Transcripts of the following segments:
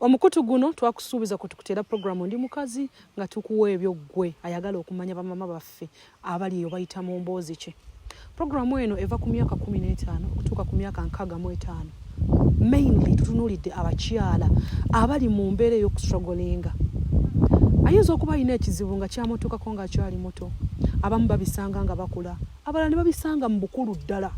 omukutu guno twakusuubiza kwe tukuteera puroguramu ndi mukazi nga tukuwa ebyo ggwe ayagala okumanya bamama baffe abali eyo bayita mu mboozi ki puroguramu eno eva ku myaka kumi n'etaano okutuuka ku myaka nkaaga mu etaano mainly tutunuulidde abakyala abali mu mbeera ey'okustragolinga ayinza okuba alina ekizibu nga kyamutuukako ng'akyali muto abamu babisanga nga bakula abalala ne babisanga mu bukulu ddala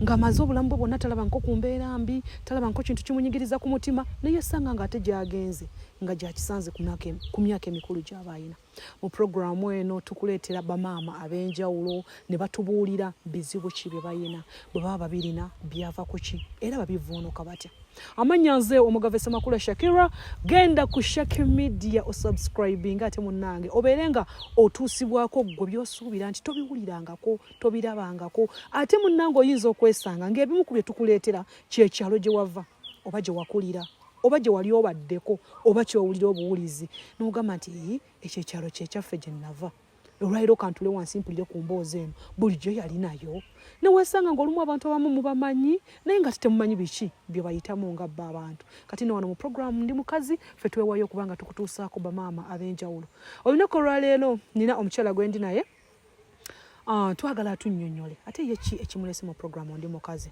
ng'amaze obulamu bwe bwonna talaba nko ku mbeera mbi talaba nko kintu kimunyigiriza ku mutima naye esanga ng'ate gyagenze nga gyakisanze ku myaka emikulu gy'aba ayina mu puroguramu eno tukuleetera bamaama ab'enjawulo ne batubuulira bizibu ki bye bayina bwe baba babirina byava ku ki era babivuunuka batya amannya nze omugave semakula shakira genda ku shaki media osubscribinga ate munange obeere nga otuusibwako ggwe byosuubira nti tobiwulirangako tobirabangako ate munange oyinza okwesanga ngaebimu ku bye tukuleetera kyekyalo gye wava oba gye wakulira oba gye wali obaddeko oba kyowulira obuwulizi nogamba nti ekyo ekyalo kyekyaffe gye nava olwaliro kantule wansi mpulire ku mboozi eno bulijjo yali nayo newesanga ngaolumu abantu abamu mubamanyi naye nga titemumanyi biki byebayitamu nga bba abantu kati ne wano mu programu ndi mukazi fe twewayo okuba nga tukutuusaako bamaama ab'enjawulo olunaku olwaleero nina omukyala gwendi naye ah, twagala tunyonyole ate ye ki ekimulese mu programu ndi mukazi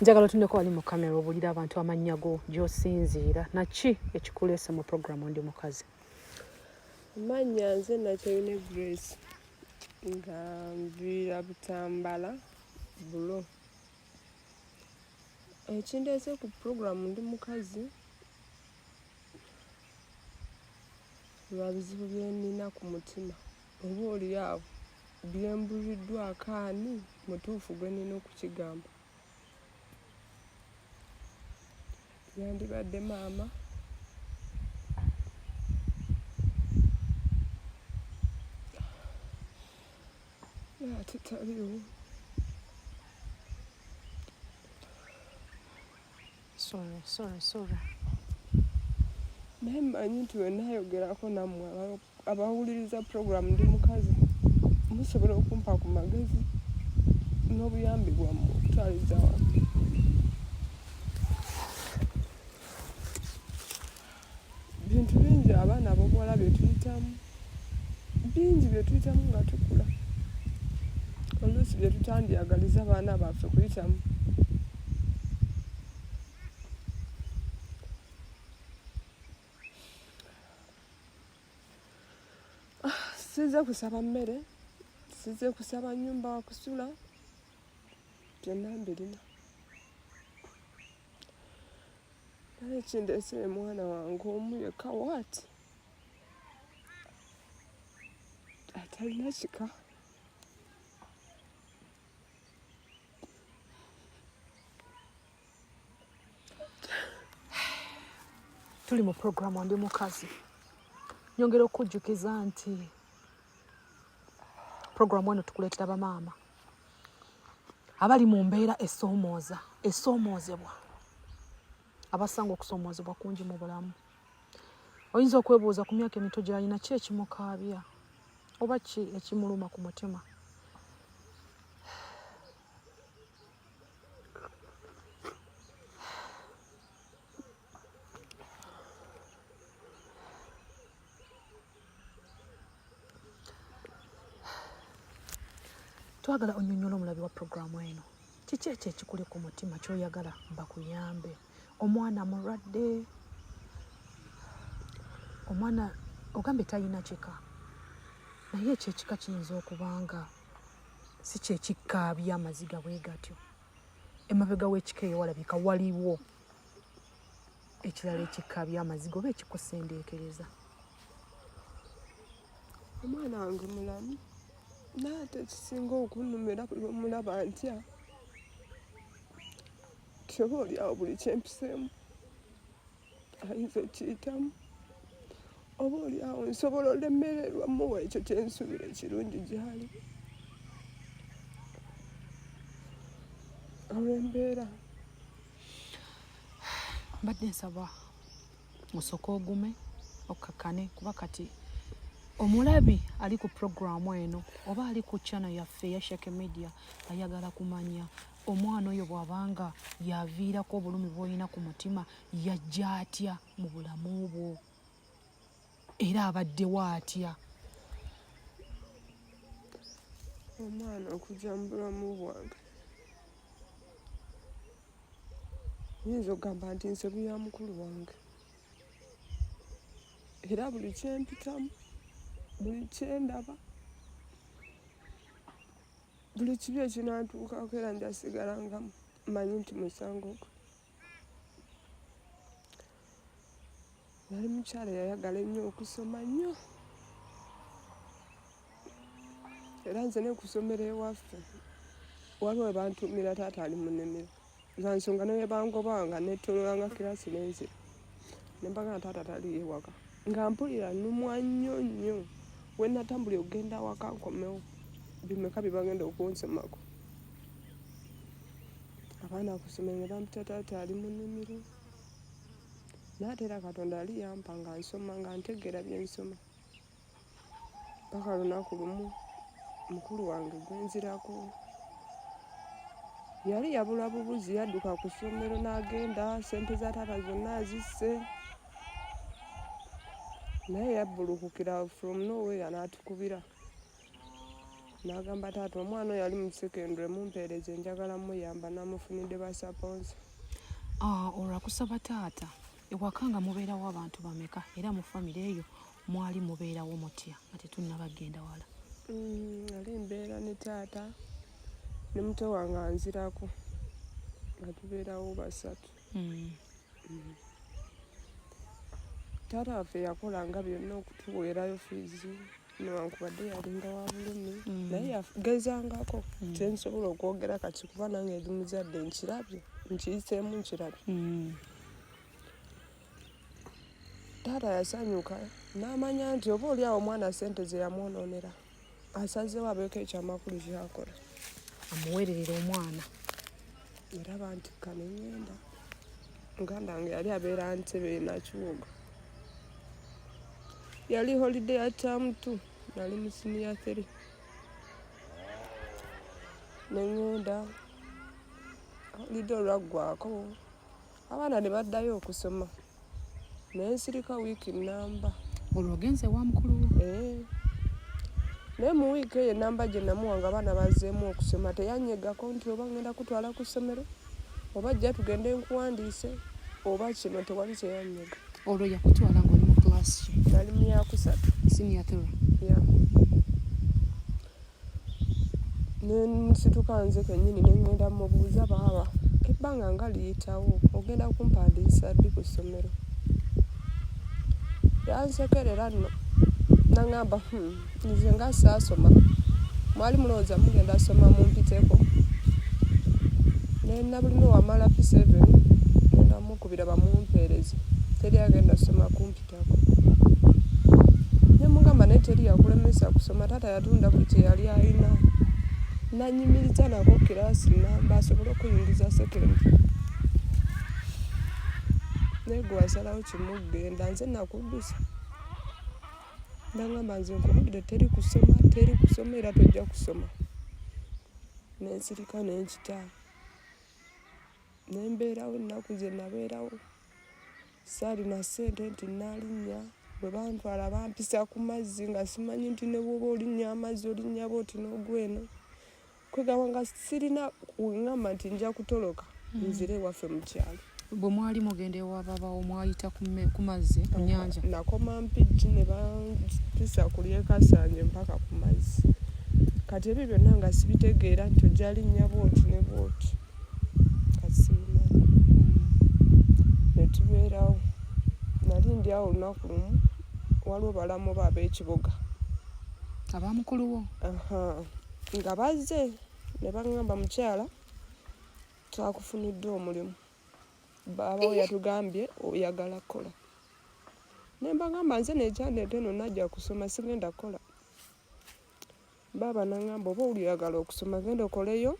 njagala otuneko wali mu kamera obulira abantu amannya go gyosinziira naki ekikuleese mu programu ndi mukazi amannya nze nakyeyune grace nga nviira butambala bulo ekindeese ku programu ndi mukazi lwa bizibu byenina ku mutima oba oli awo byembuliddwako ani mutuufu gwe nina okukigamba yandibadde maama ate taliwo sorry sorry sorry naye mmanyi nti wenayogerako nammwe abawuliriza puroguramu ndi mukazi musobola okumpa ku magezi n'obuyambi bwammwe okutwaliza wano bintu bingi abaana abobuwala byetuyitamu bingi byetuyitamu nga tukula oluusi byetutandyagaliza abaana baffe kuyitamu sinze kusaba mmere sinze kusaba nyumba wakusula byonna mbirina nale ekindeesere mwana wange omu yekka waati atalina kika tuli mu programu ndi mukazi nyongera okujjukiza nti programu eno tukuleetera bamaama abali mu mbeera esoomooza esoomoozebwa abasanga okusoomoozebwa kungi mu bulamu oyinza okwebuuza ku myaka emito gyalina ki ekimukaabya oba ki ekimuluma ku mutima twagala onyonyola omulabi wa puroguramu eno kiki ekyo ekikuli ku mutima kyoyagala bakuyambe omwana mulwadde omwana ogambye talina kika naye ekyo ekika kiyinza okubanga si kyekikkaabya amaziga bwe gatyo emabega w'ekika eyo walabika waliwo ekirala ekikkaabya amaziga oba ekikusendeekereza omwana wange mulamu naate ekisinga okunumira buli omulaba ntya kyoba olyawo buli kyempiseemu ayinza okiyitamu oba oli awo nsobola olemererwa muwa ekyo kyensuubira ekirungi gyali olwembeera mbadde nsaba osooka ogume okkakkane kuba kati omulabi ali ku puroguramu eno oba ali ku chano yaffe ya shake media ayagala kumanya omwana oyo bw'aba nga y'aviirako obulumi bw'olina ku mutima yajja atya mu bulamu bwo era abaddewo atya omwana okujja mu bulamu bwange nyinza okugamba nti nsobi ya mukulu wange era buli kyempitamu buli kyendaba buli kibi ekinantuukako era njasigala nga manyi nti musango gwe yali mukyala yayagala ennyo okusoma nnyo era nze nekusomera ewaffe waliwo abantu mira taata ali munimiro za nsonga naye bangobanga netololanga kirasi nenze nembaga na taata tali ewaka nga mpulira numwa nnyo nnyo wenatambuli okugenda awaka nkomewo bimeka byebagenda okunsomako abaana kusomero ne bampita taata ali mu nnimiro naate era katonda ali yampa nga nsoma nga ntegeera byensoma mpaka lunaku lumu mukulu wange gwenzirako yali yabula bubuzi yadduka ku ssomero n'agenda sente za taata zonna azisse naye yabbulukukira from nowhere n'atukubira n'agamba taata omwana oyo yali mu secondary mumpeereze njagala muyamba namufunidde basaponsa ah, olwakusaba taata ewaka nga mubeerawo abantu bameka era mu famire eyo mwali mubeerawo mutya nga tetunnaba kugenda wala mm, ali mbeera ne taata ne muto wange anzirako nga tubeerawo basatu mm. Mm. taata waffe yakolanga byonna okutuweerayo fiizi newankubadde yalinga wa bulumi mm. naye yagezangako mm. kyensobola okwogera kati kuba nange eri muzadde nkirabye nkiyiseemu nkirabye mm. taata yasanyuka n'amanya nti oba oli awo omwana sente ze yamwonoonera asazewo abeeko ekyamakulu kyakola amuweererera omwana era bantikka ne ngenda muganda wange yali abeera ntebe nakiwogo yali holiday ya term two nali mu siniya three ne ngenda holiday olwaggwako abaana ne baddayo okusoma naye nsirika wiiki namba olwo ogenze wa mukulu eh. naye mu wiiki eyo enamba gye namuwa nga abaana bazeemu okusoma teyanyegako nti oba ngenda kutwala ku ssomero oba jja tugende nkuwandiise oba kino tewali kyeyanyega olwo yakutwala ngaoli mu class nali mu yakusatu siniya tora yeah. nensituka nze kenyini nengenda mubuuza baaba ebbanga nga liyitawo ogenda kumpandiisa ddi ku ssomero yansekerera nno nangamba hmm, nze nga saasoma mwali mulowooza mugenda soma mumpiteko nena bulime wamala p7 nenda mukubira bamumpeereze teri agenda soma kumpi okuyitako ne mugamba naye teri yakulemesa kusoma taata yatunda buli kye yali alina nanyimiriza nako kiraasi namba asobole okuyingiza sekendi naye gwe wasalawo kimugenda nze nakuddusa nangamba nze nkubulire teri kusoma teri kusoma era tojja kusoma nensirika nenkita nembeerawo ennaku ze nabeerawo saalina ssente nti nnalinnya bwe bantwala bampisa ku mazzi nga simanyi nti ne bwoba olinnya amazzi olinnya booti n'ogweno kwegamba nga sirina kungamba nti nja kutoloka hmm. nzire ewaffe mu kyalo bwe mwali mugenda ewababawo mwayita ku mazzi ku nyanja nakoma mpijji ne bampisa kulyekasanje mpaka ku mazzi kati ebyo byonna nga sibitegeera nti ojalinnya booti ne booti netubeerawo nali ndi awo olunaku lumu waliwo balamu ba ab'ekibuga abamukuluwo nga bazze ne baŋŋamba mukyala twakufuniddwa omulimu baabawo yatugambye oyagala kukola ne mbagamba nze nekyandeeta eno najja kusoma sigenda kukola baaba nangamba oba oli oyagala okusoma genda okoleyo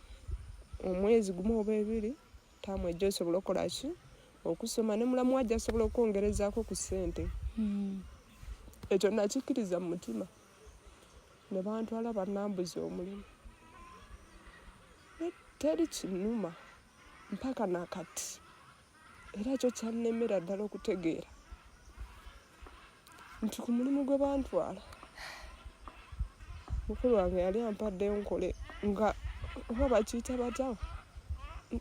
omwezi gumu oba ebiri taamu ejja osobola okola ki okusoma ne mulamu wajja asobola okwongerezaako ku ssente hmm. ekyo nakikkiriza mu mutima ne bantwala banambuza omulimu teri kinuma mpaka nakati era ekyo kyannemera ddala okutegeera nti ku mulimu gwe bantwala mukulu wange yali ampaddeyo nkole nga oba bakiyita batya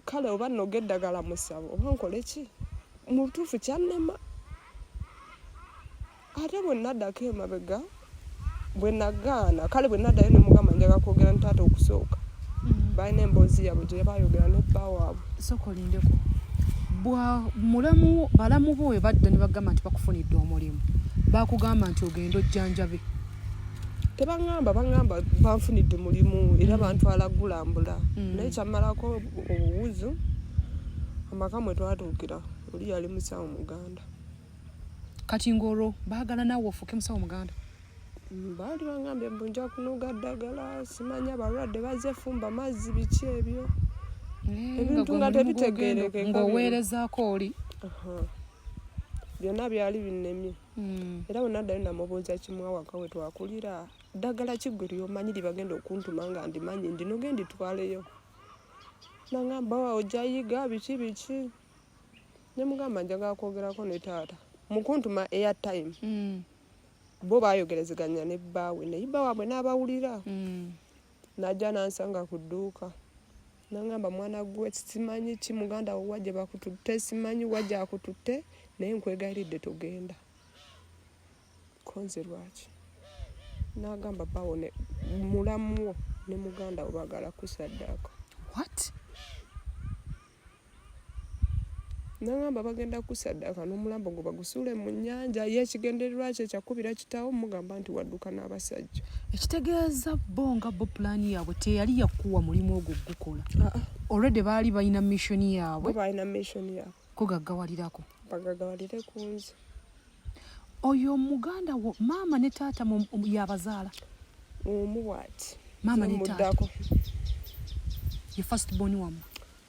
kale oba noga eddagala musabo oba nkole ki mu butuufu kyannema ate bwe naddako emabega bwe nagaana kale bwe naddayo ne mugamba njaga kwogera nitaata okusooka mm. balina emboozi yaabwe gye bayogera ne bba waabwe sooka olindeko bwa mulamu balamu bo we badda ne bagamba nti bakufunidde omulimu bakugamba nti ogenda ojjanjabe tebaŋamba baŋamba banfunidde mulimu era mm. bantwala gulambula mm. naye kyamalako obuwuzu amaka mwe twatuukira oli yali musawo muganda kati ng'olwo baagala naawe ofuuke musawo muganda baali bangambye mbu nja kunoga ddagala simanya balwadde baze fumba mazzi biki ebyo eh, ebintu nga tebitegeereke ng'oweerezaako oli byonna byali binnemye hmm. era bwe naddayo namubuuza kimu awaka we twakulira ddagala kiggwe lyomanyi lyebagenda okuntuma nga ndimanyi ndinoge nditwaleyo nangamba wa ojayiga biki biki nemugamba njagala kwogerako ne taata mukuntuma air time mm. bo bayogerezeganya ne bbaawe naye bba waabwe n'abawulira mm. najja nansanga ku dduuka nangamba mwana gwe simanyi ki muganda wo wajja bakututte simanyi wajja akututte naye nkwegayiridde togenda konze lwaki nagamba bawo mulamuwo ne muganda wo bagala kusaddaako what nagamba bagenda kusaddaaka n'omulambo gwe bagusuule mu nnyanja ye ekigendererwa kye kyakubira kitawo mugamba nti wadduka n'abasajja ekitegeeza bo nga bo pulaani yaabwe teyali yakuwa mulimu ogwo gukola ah, ah. olwedde baali balina missioni yaabwe balina missioni yaabwe kugaggawalirako bagagawalire ku nze oyo muganda wo maama ne taata yabazaala omu bwati maama ne taata ye first born wamwe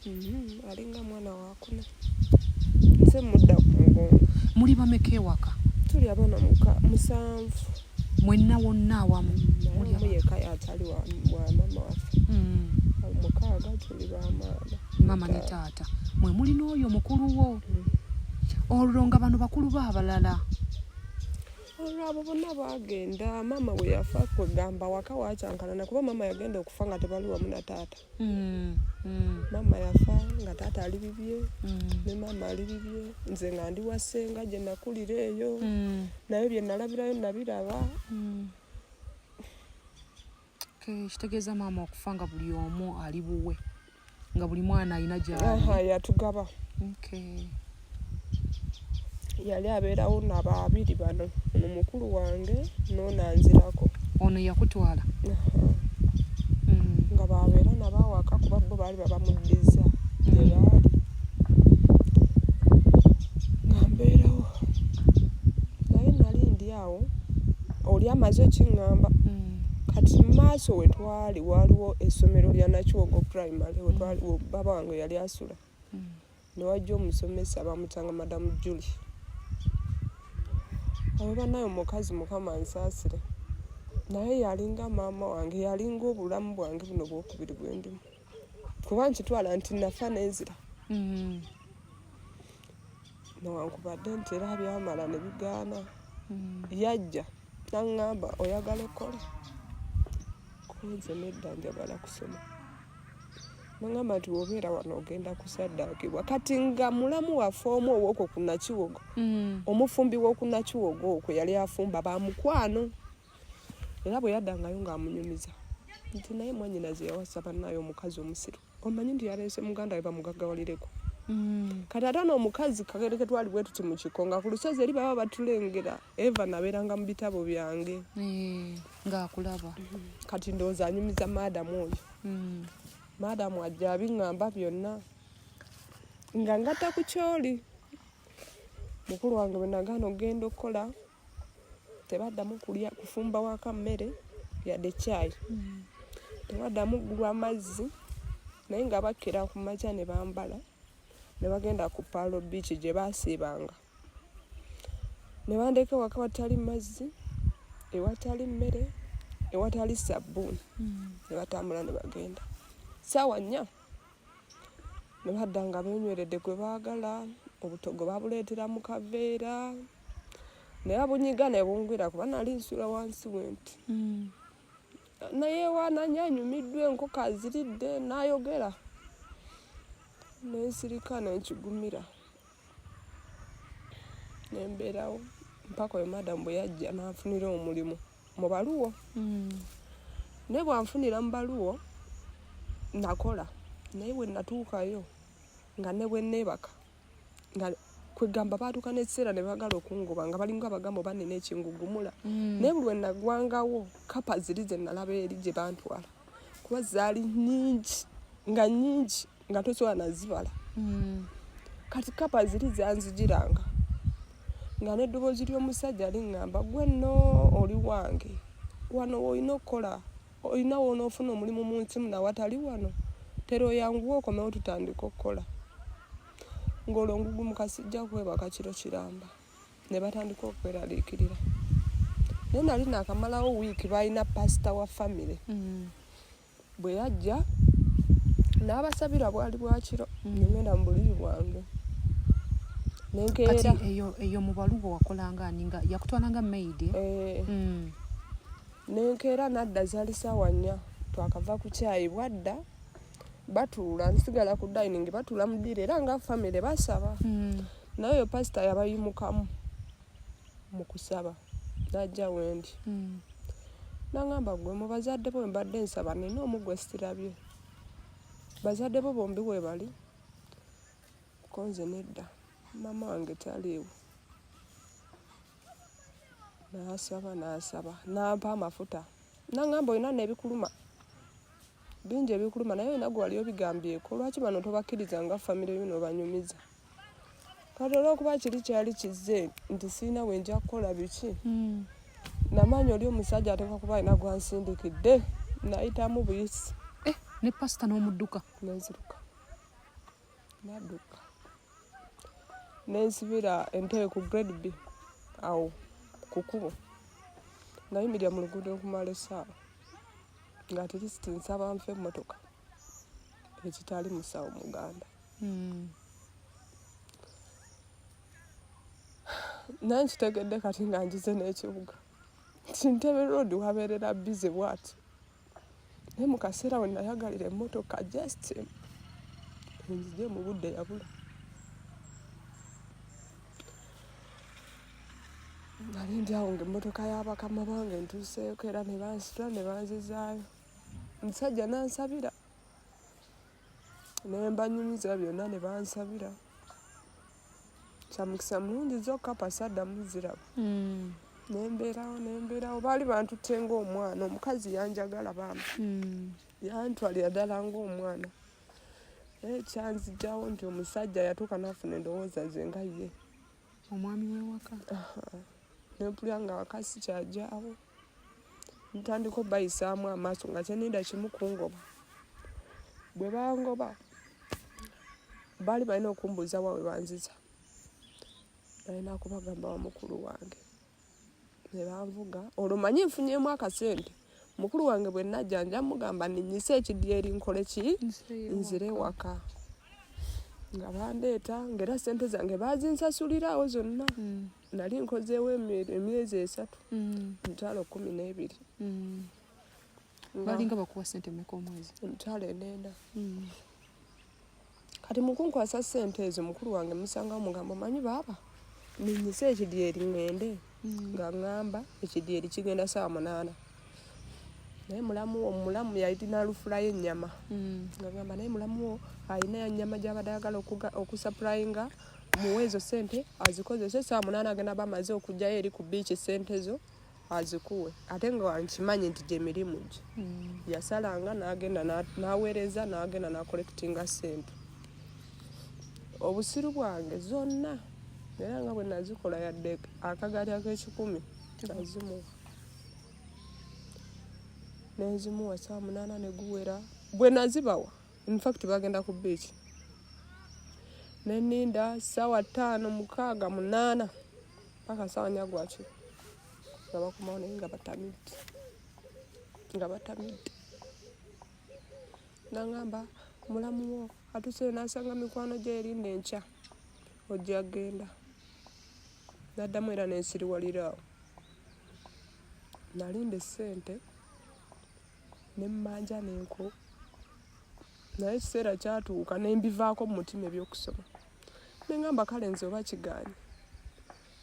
mm-hmm. alinga mwana wakuna nze mudda ku mugongo muli bameka ewaka tuli abaana musanvu mwenna wonna awamu yeka yatali wa mama waffe mm. mukaaga tuli bamaama mama ne taata mwe muli n'oyo mukulu wo mm. olwo nga bano bakulu ba abalala olwo abo bonna baagenda maama bwe yafa kwegamba waka wakyankalana kuba maama yagenda okufa nga tebali wamu na taata mm, mm. maama yafa nga taata ali bibye mm. ne maama ali bibye nze nga ndi wa ssenga gye nakulira eyo mm. naye bye nalabirayo nabiraba mm. okay, kitegeeza maama okufa nga buli omu ali buwe nga buli mwana alina gyali yatugaba okay. yali abeerawo na babiri bano ono mukulu wange noona nzirako ono yakutwala hmm. nga babeera nabawaka kuba bo baali babamuddiza gyebaali hmm. nga mbeerawo naye nali ndi awo oli amaze okiŋŋamba hmm. kati maaso wetwali waliwo essomero lya nakyogo primary wetwali baba wange yali asula newajja omusomesa bamutanga madamu juli abo banayo mukazi mukama nsaasire naye yalinga maama wange yalinga obulamu bwange buno bwokubiri bwendimu kuba nkitwala nti nafa nenzira mm-hmm. newankubadde nti era byamala nebigaana mm-hmm. yajja naŋŋamba oyagala ekkola kunze nedda njagala kusoma nangamba nti wobeera wano ogenda kusaddaakibwa kati nga mulamu waffe omu owokwo ku nakiwogo mm. omufumbi w'oku nakiwogo okwe yali afumba ba mukwano era bwe yaddangayo ng'amunyumiza nti naye mwanyinaze yawasa bannayo omukazi omusiru omanyi nti yaleese muganda we bamugaggawalireko mm. kati ate noomukazi kagereke twali bwe tuti mu kiko nga ku lusozi eri baba batulengera eva nabeeranga mu bitabo byange eh. ng'akulaba mm-hmm. kati ndowooza anyumiza maadamu oyo mm. maadamu ajja abiŋŋamba byonna nga ngatta ku kyoli mukulu wange bwe nagaana okugenda okukola tebaddamu kulya kufumba waka mmere yadde caayi mm. tebaddamu kugulwa mazzi naye nga bakkira ku makya ne bambala ne bagenda ku paalo biiki gye baasiibanga ne bandeeka ewaka watali mazzi ewatali mmere ewatali sabbuuni hmm. ne batambula ne bagenda saawa nnya ne badda nga benyweredde gwe baagala obutogo babuleetera mu kaveera naye abunyiga ne bungwira kuba nali nsula wansi wenti hmm. naye wananya anyumiddwa enkoko aziridde n'ayogera nensirika nenkigumira nembeerawo mpaka oyo madamu bwe yajja nanfunira omulimu mu baluwo hmm. naye bwanfunira mu baluwo nakola naye bwe natuukayo nga ne bwe neebaka nga kwegamba baatuuka n'ekiseera ne bagala okungoba nga balinga abagambo banina ekingugumula hmm. naye buli wenagwangawo kapa ziri ze nalaba eri gye bantwala kuba zaali nyingi nga nyingi nga tosobola nazibala hmm. kati kapa ziri zanzijiranga nga n'eddoboozi ly'omusajja liŋŋamba gwe nno oli wange wano olina okukola olina woonaofuna omulimu mu nsi muna watali wano tera oyanguwa okomewo tutandika okukola ng'olwo ngugu mukasijja kwebaka kiro kiramba ne batandika okweraliikirira naye nali naakamalawo wiiki baalina pasita wa famire mm. bwe yajja n'abasabira bwali bwakiro mm. nengenda mu buliri bwange nenkeera eyo mu balubo wakolanga ani nga yakutwalanga maidi eh? eh. mm. nenkeera nadda zali saawa nnya twakava ku kyayi bwadda batuula nsigala ku dining batuula mu ddiro era nga famire basaba mm. naye oyo pasita yabayimukamu mu kusaba n'ajja wendi hmm. nangamba gwe mu bazadde bo mbadde nsaba nina omu gwe sirabye bazadde bo bombi webali konze nedda mama wange taliiwo nasaba nasaba nampa amafuta nangamba olina nebikuluma bingi ebikuluma naye olina gwe wali obigambyeko lwaki bano tobakkiriza nga famire yo nobanyumiza kati olwokuba kiri kyali kizze nti sirina bwe nja kukola biki hmm. namaanyi oli omusajja ateeka kuba alina gwansindikidde nayitamu buyisi eh, ne pasita n'omudduka nenziruka nadduka nensibira entebe ku grade b awo ku kubo nayimirira mu luguudo okumala essaawa nga tirisiti nsaba nfa emmotoka ekitali musawo muganda hmm. naye nkitegedde kati nga njize n'ekibuga nti ntebe road wabeerera bize bwati naye mu kaseera we nayagalira emmotoka just enzije mu budde yabula nali ndi awo nga emmotoka y'abakama bange ntuuseeko era ne bansitula ne banzizaayo omusajja nansabira nembanyumiza byonna ne bansabira kyamukisa mulungi zokka pasadda muziraba hmm. nembeerawo nembeerawo baali bantute ngaomwana omukazi yanjagala bambi hmm. yantwalira ddala ngaomwana naye kyanzijawo nti omusajja yatuuka nafuna endowooza ze nga ye omwami wewaka nempulira nga wakasi kyajawo ntandika obayisaamu amaaso nga kyenida kimu kungoba bwe bangoba baali balina okumbuuza wa we banziza nalina kubagamba wamukulu wange ne banvuga olwo manyi nfunyemu akasente mukulu wange bwe najja nja mugamba ninyise ekidyeri nkole ki nzire waka nga bandeeta ngaera sente zange bazinsasuliraawo zonna mm. nali nkozeewo emyezi esatu mm. emitwalo kumi n'ebiri mm. balinga bakuwa sente meka omwezi emitwalo enenda kati mukunkwasa sente ezo mukulu wange musangawo mugamba omanyi baaba ninyise ekidyeri ngende hmm. nga ngamba ekidyeri kigenda saawa munaana naye mulamu wo mulamu yalina lufulayo ennyama hmm. nga ngamba naye mulamu wo alina yanyama gyabadde ayagala okusapurayinga muwe ezo sente azikozese saawa munaana agenda bamaze okugjayo eri ku biiki sente zo azikuwe ate nga wankimanyi nti gyemirimu gye hmm. yasalanga nagenda naweereza nagenda nakolekitinga sente obusiru bwange zonna era nga bwe nazikola yadde akagaali ak'ekikumi nazimuwa nenzimuwa saa munaana neguwera bwe nazibawa infact bagenda ku biiki neninda saawa ttaano mukaaga munaana mpaka nsawa nyagwaki nga bakomawo naye nga batamidde nga batamidde nangamba mulamu wo atuseyo nasanga mikwano gye erinda enkya ojja genda naddamu era nensiriwaliraawo nalinda esente nemmanja nenko naye ekiseera kyatuuka nembivaako mu mutima ebyokusoma ne ŋamba kale nze oba kigaanyi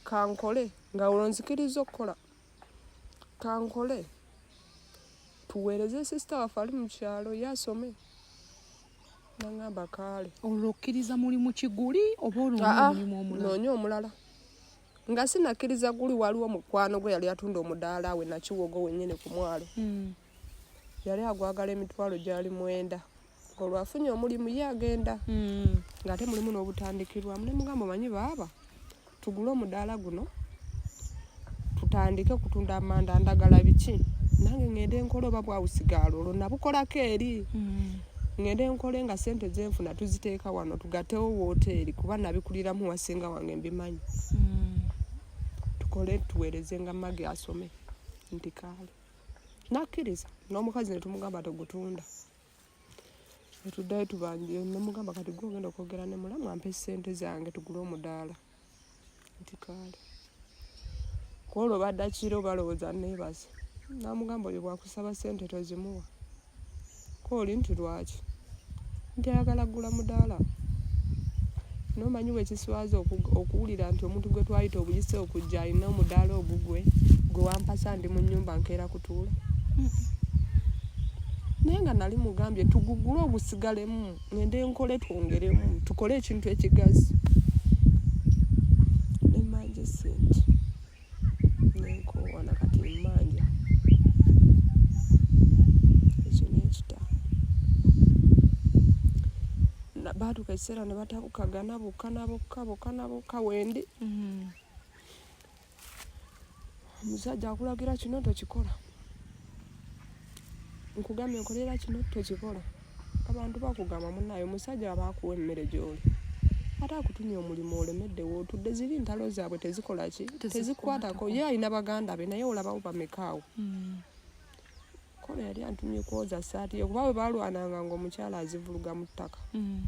kankole nga olwo nzikiriza okukola kankole tuweereze sisita waffe ali mu kyalo ye asome naŋamba kaale olwo okkiriza mulimu kiguli oba olwomulimu omulala noonya omulala nga sinakkiriza guli waliwo mukwano gwe yali atunda omudaala we nakiwogo wenyini ku mwalo hmm. yali agwagala emitwalo gyali mwenda olwafunye omulimu ye agenda mm. nga ate mulimu n'obutandikirwamu ne mugamba omanyi baaba tugule omudaala guno tutandike okutunda amanda ndagala biki nange ngende enkola oba bwawusigaalo olwo nabukolako eri mm. ngende enkole nga sente zenfuna tuziteeka wano tugatewo woteeri kuba nabikuliramu wasinga wange mbimanyi mm. tukole tuweereze nga magi asome nti kaale nakkiriza n'omukazi ne tumugamba tegutunda netuddayo tubanje nemugamba kati gwe ogenda okwogera ne mulamu ampe ssente zange tugule omudaala nti kaale kwolwo badakira obalowooza neebaze namugamba oyo bwakusaba ssente tozimuwa kooli nti lwaki nti ayagala kugula mudaala nomanyi wekiswaza okuwulira nti omuntu gwe twayita obuyise okujja alina omudaala ogugwe gwe wampasa ndi mu nyumba nkeera kutuula naye nga nali mugambye tugugule ogusigalemu ngende nkole twongeremu tukole ekintu ekigazi nemanje sente baatuuka ekiseera ne batabukagana bokka na bokka bokka na bokka wendi mm-hmm. omusajja akulagira kino tokikola nkugambye nkolera kino tokikola abantu bakugamba munaye omusajja aba akuwa emmere gyoli ate akutumye omulimu olemedde wootudde ziri ntalo zaabwe tezikola ki tezikwatako ye alina baganda be naye olabawo bamekaawo hmm. kono yali antumye kwoza saati ye kuba bwe balwananga ngaomukyala azivuluga mu ttaka hmm.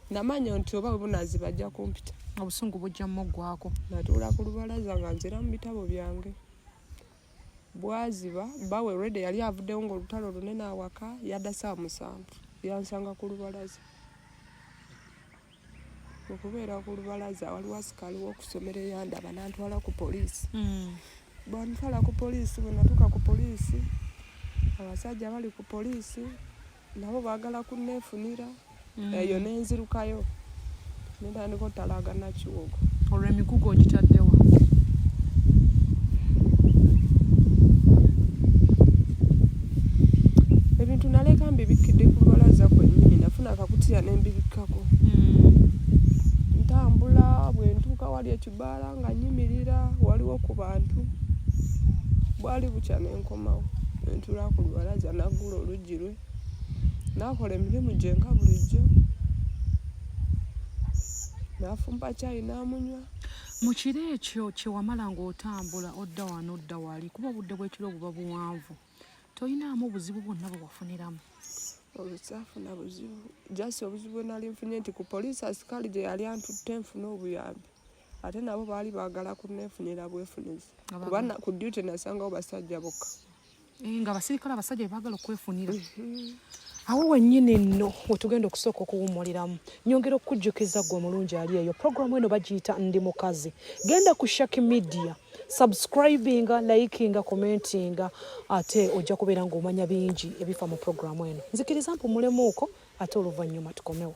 namanya nti oba webunazi bajja kumpita obusungu bujja muggwako natuula ku lubalaza nga nzira mu bitabo byange bwaziba bawe rede yali avuddewo ngaolutalo lunene awaka yadda saa musanvu yansanga ku lubalaza okubeera ku lubalaza waliwo asikaali wokusomero eyandaba nantwala ku poliisi hmm. bwantwala ku poliisi bwenatuuka ku poliisi abasajja bali ku poliisi nabo baagala kunneefunira mm. eyo mm. nenzirukayo nentandika otalaaga nakiwogo olwo emigugu ogitaddewa ebintu naleka mbibikkidde ku lubalaza kwennyini nafuna akakutiya nembibikkako mm. ntambula bwe ntuuka wali ekibaala nga nyimirira waliwo ku bantu bwali bukya nenkomawo nentula ku lubalaza naggula olugi girwe nakola emirimu gye nga bulijjo nafumba kyayi namunywa mu kiro ekyo kyewamala ng'otambula odda wano odda wali kuba obudde bw'ekiro buba buwanvu toyinaamu obuzibu bwonna bwe wafuniramu olukyafuna buzibu jasi obuzibu bwenali nfunye nti ku poliisi asikaali gye yali antutte nfuna obuyambi ate nabo baali baagala kunneefunira bwefunizi kuba ku duty nasangawo basajja bokka eh, nga abasirikale abasajja bebagala okwefunira mhm. awo wennyini nno wetugenda okusooka okuwummuliramu nyongera okukujjukiza gwe omulungi ali eyo programu eno bagiyita ndi mukazi genda ku shaki media subscribinga likinga commentinga ate ojja kubeera ng'omanya bingi ebifa mu programu eno nzikiriza mpumulemuuko ate oluvannyuma tukomewo